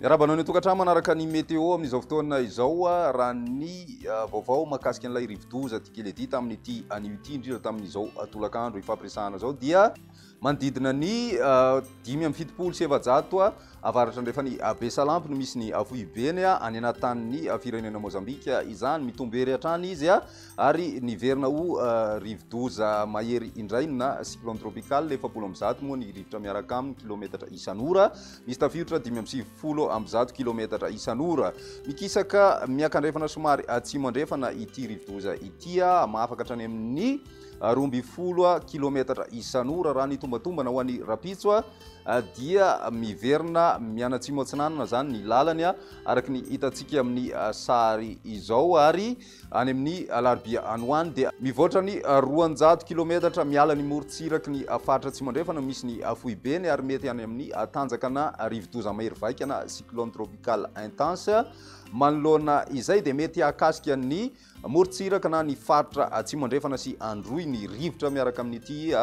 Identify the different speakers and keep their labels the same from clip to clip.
Speaker 1: Miarahaba anao ny tokantrano manaraka ny météo amin'izao fotoana izao ah, raha ny ah, vaovao makasika an'ilay rivodoza Tikeledi tamin'ity anio ity indrindra tamin'izao ah, tolakandro ifampiresahana izao dia Manodidina ny dimy amby fitopolo sy efajato ha avaratra andrefan' i Abesalampy no misy ny foibeny ha any anatin' ny firenena Môzambika izany. Mitombo ery hatrany izy ha ary niverina ho rivodoza mahery indray ny na cyclone tropical. Efapolo amby zato moa ny rivotra miaraka aminy kilometatra isan' ora. Misy tafiotra dimy amby sivifolo amby zato kilometatra isan' ora. Mikisaka miakandrefana somary atsimo andrefana ity rivodoza ity ha hamafa ka hatrany amin' ny. roa ambin'ny folo kilometatra isan'ora raha ny tombatombana ho an'ny rapitso a ah, dia miverina mianatsimo atsinanana zany ny lalany a ah, araka ny hitantsika amin'ny ah, sary izao ary any amin'ny alarobia anoany dia mivoatra ny roanjato kilometatra miala ny morontsiraky ny faritra tsy mandrefana misy ny foibeny ary mety any amin'ny tanjakana rivodoza mahery vaikana cyclone tropical intense manoloana izay dia mety hakasika ny Amorontsiraka na ny faritra Atsimo Andrefana sy Androy ny rivotra miaraka amin'ity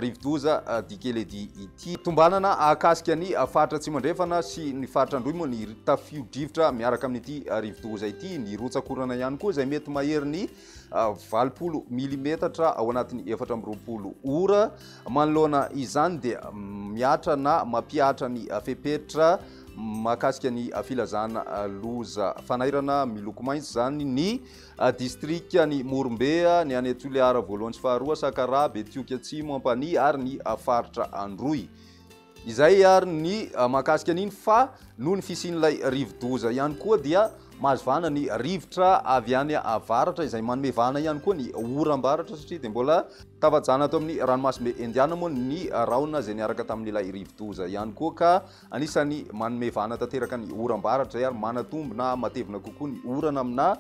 Speaker 1: rivodoza Dikeledi ity. Tombanana ahakasika ny faritra Atsimo Andrefana sy ny faritra Androy moa ny tafio-drivotra miaraka amin'ity rivodoza ity. Ny rotsak'orana ihany koa izay mety maherin'ny valopolo milimetatra ao anatin'ny efatra amby roapolo ora. Manoloana izany dia mihatra na mampihatra ny fepetra. mahakasika ny filazana loza fanairana miloko mainty izany ny distrika ny Morombea, ny any Toliara voalohany sy faharoa, Sakaraha, Betioky Atsimo, Ampanihy ary ny faritra Androy. Izay ary ny mahakasika an'iny fa noho ny fisian'ilay rivodoza ihany koa dia mahazo vahana ny rivotra avy any avaratra izay manome vahana ihany koa ny oram-baratra satria dia mbola tafajana ato amin'ny ranomasimbe Indiana moa ny rahona izay niaraka tamin'ilay rivodoza ihany koa ka Anisan'ny manome vahana tanteraka ny oram-baratra izay ary manatombo na matevina kokoa ny orana aminà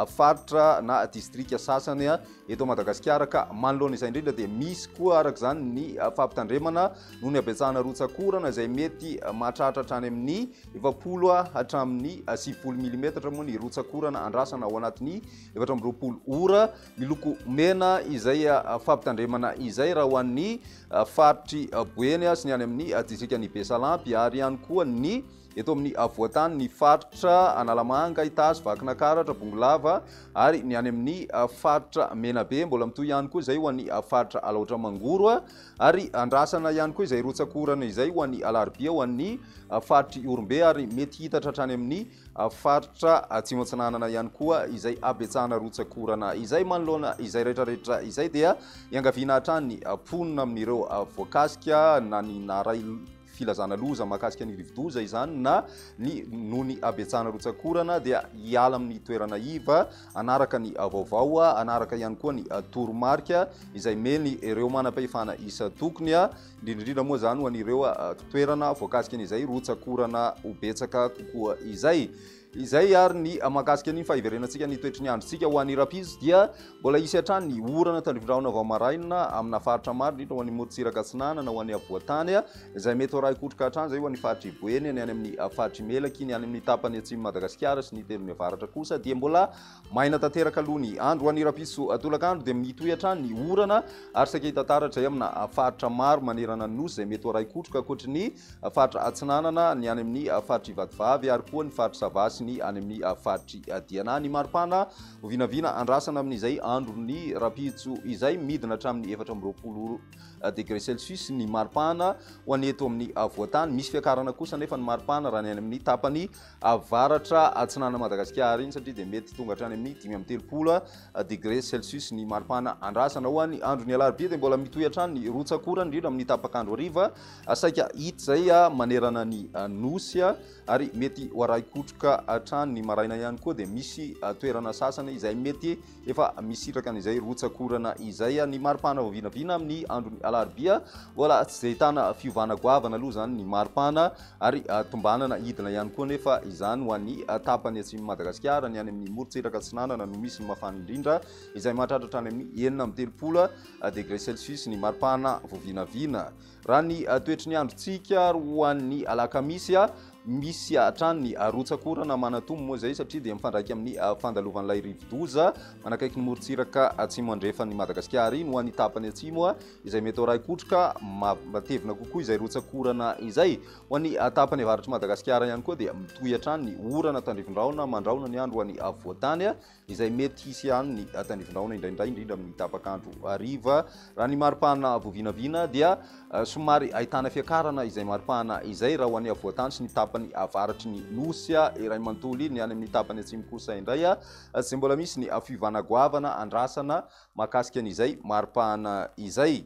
Speaker 1: faritra na distrika sasany eto Madagasikara ka manoloana izay indrindra dia misy koa araka izany ny fampitandremana noho ny habetsahana rotsak'orana izay mety mahatratra hatrany amin'ny efapolo hatramin'ny sivifolo milimetatra moa ny rotsak'orana andrasana ao anatin'ny efatra amby roapolo ora miloko mena izay fampitandremana izay raha ho an'ny faritr'i Boeny sy ny any amin'ny distrikan'i Besalampy ary ihany koa ny eto amin'ny voatany ny faritra Analamanga, Itazo, Vakinakaratra, Bongolava ary ny any amin'ny faritra Menabe. Mbola mitohy ihany koa izay ho an'ny faritra Alaotra Mangoro ary andrasana ihany koa izay rotsakorana izay ho an'ny alarobia ho an'ny faritr'i Orombe ary mety hitatra hatrany amin'ny faritra Atsimo Atsinanana ihany koa izay habetsahana rotsak'orana izay manoloana izay rehetrarehetra izay dia iangaviana hatrany mponina amin'ireo voakasika na ny naray filazana loza mahakasika ny rivodoza izany na ny noho ny habetsahana rotsak'orana dia hiala amin'ny toerana iva anaraka ny vaovao anaraka ihany koa ny toromarika izay meny ireo manam-pahefana isan-tokony indrindra indrindra moa izany ho an'ireo toerana voakasika an'izay rotsak'orana ho betsaka kokoa izay. Izay ary ny mahakasika ny fahiverenantsika ny toetry ny androntsika ho an'ny rapizo dia mbola hisy hatrany ny orana tandrivindrahona vao maraina amina faritra maro indrindra ho an'ny morontsiraka atsinanana ho an'ny avoantany izay mety ho raikotroka hatrany izay ho an'ny faritry Boeny ny any amin'ny faritry Melaky ny any amin'ny tapany atsimon'i Madagasikara sy ny telony avaratra kosa dia mbola Maina tanteraka aloha ny andro any Rapiso tolakandro dia mitohy hatrany ny orana ary saika hita taratra eo amina faritra maro manerana ny nosy izay mety ho arahin-kotroka ankoatry ny faritra atsinanana ny any amin'ny faritr'i Vatovavy ary koa ny faritr'i Sava sy ny any amin'ny faritr'i Diana ny maripana ho vinavina andrasana amin'izay andron'ny Rapitso izay midina hatramin'ny efatra amby roapolo degré celsius ny maripana ho an'ny eto amin'ny voatany misy fiakarana kosa anefa ny maripana raha ny any amin'ny tapany avaratra atsinanan'i Madagasikara iny satria dia mety tonga hatrany amin'ny dimy amby telopolo degré celsius ny maripana andrasana. Ho an'ny andron'ny alarobia dia mbola mitohy hatrany ny rotsak'orana indrindra amin'ny tapak'andro hariva saika hita izay manerana ny Nosy ary mety ho arahi-kotroka hatrany ny maraina ihany koa dia misy toerana sasany izay mety Efa misitraka an'izay rotsak'orana izay ny maripana vao vinavina amin'ny andron'ny alarobia. Mbola tsy dia ahitana fiovana goavana aloha izany ny maripana ary ah, tombanana hidina ihany koa anefa izany ho an'ny ah, tapany atsimon'i Madagasikara. Ny any amin'ny morontsiraka atsinanana no misy ny mafana indrindra izay mahatratra hatrany amin'ny enina amby telopolo ah, degre celsius ny maripana vao vinavina. Raha ny toetry ny androntsika ary ho an'ny alakamisy, misy hatrany ny rotsak'orana manantombo moa izay satria dia mifandraika amin'ny fandalovan'ilay rivodoza manakaiky ny morontsiraka atsimo andrefan'i Madagasikara. Iny ho an'ny tapany atsimo izay mety ho raikotroka matevina kokoa izay rotsak'orana izay. Ho an'ny tapany avaratr'i Madagasikara ihany koa dia mitohy hatrany ny orana tandrivindraona mandrahona ny andro ho an'ny afovoantany izay mety hisy ihany ny tanivon-drahona indraindray indrindra amin'ny tapaka andro hariva. Raha ny maripana voavinavina dia eh, somary ahitana fiakarana izay maripana izay raha ho any avoantany sy ny tapany avaratry ny nosy ah, iray mantoly, ny any amin'ny tapany atsimo kosa indray ah, izay mbola misy ny fiovana goavana andrasana mahakasika an'izay maripana izay.